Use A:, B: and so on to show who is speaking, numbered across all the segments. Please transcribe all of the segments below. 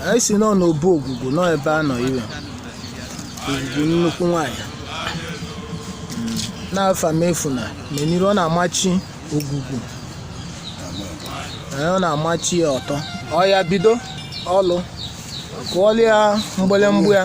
A: anyị si nọ n'obu ogwugwu nọ ebe a nọ iwe ogwugwu nnukwu nwanyị na Afamefuna Meniru ọ na-amachi ogwugwu Ee, ọ na-amachi ya ọtọ ọ ya bido ọlụ kụọlịa mgbịlịmgba ya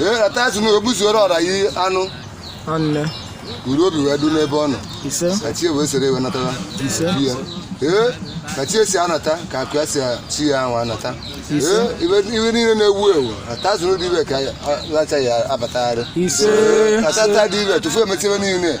B: eratazin ogbuzuoro ọra yi anụ ọnne uru obi wee du n'ebe ọ nọ ise ka chi wee soro ewe natara Ise. chi ya ee ka chi esi anata ka akụ ya si chi ya ahụ anata Ise. ee ife ife niile na-ewu ewu ata azụ n'ụdị ife ka a- lacha ya abatagharị Ise. Ee, atata dị iwe tufu emechi ebe niile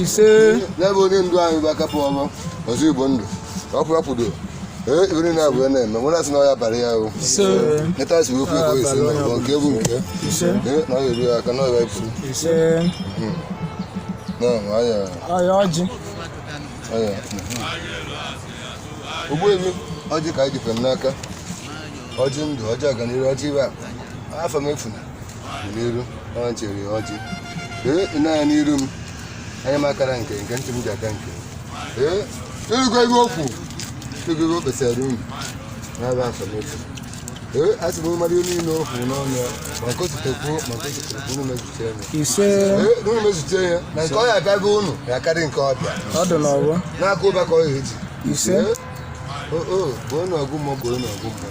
B: ise n'ebe onye ndu anyị bụ akapụ ọma ọzọ igbo ndụ ọkụ ya kwudo ee iri na abụọ na-eme nwere asị na ọ ya-abara ya o neta si wekwu ego ise na ọgbọ nke bụ nke ee na ọ ya-eru ya aka na ọya ifu ise na ọya ọya ọjị ọya Ogbuefi ọjị ka anyị jikwa m n'aka ọjị ndụ ọjị aganiru ọjị ife Afamefuna n'iru ọ chere ya ọjị ee ị na-anya n'iru m anya m akara nke nke ntị m ji aka nke ee ị nụgo ife o kwu ị nụgo ife o kpesara unu n'ebe Afamefu ee a sị m mmadụ ihe niile o kwu n'ọnụ ya ma kositekwu ma kositekwu unu mezute ya ise ee
A: unu
B: mezute ya na nke ọ ya-abịa be unu ya karị nke ọ bịa ọ dị n'ọgbọ
A: n'aka ụba ka ọ ya eji
B: ise Ee,
A: o o
B: bụ onye ọgụ mmụọ bụ onye ọgụ mmụọ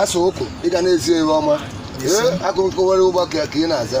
B: asa ụkwụ ị ga na-ezi ihe ọma ee akụkọ were ụba ka ị na-aza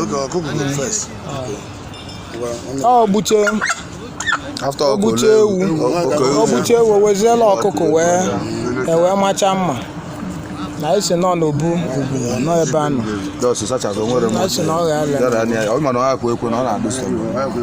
A: oge ọkụkọ go first ọ gbuche after ọ gbuche ewu ọ gbuche ewu weziela ọkụkọ wee ewee macha mma na esi nọ n'obu nọ ebe a nọ just such as o nwere na esi na ọ gha-ala ya da na ọ ma na ọ akwa ekwe na ọ na-adụ sọ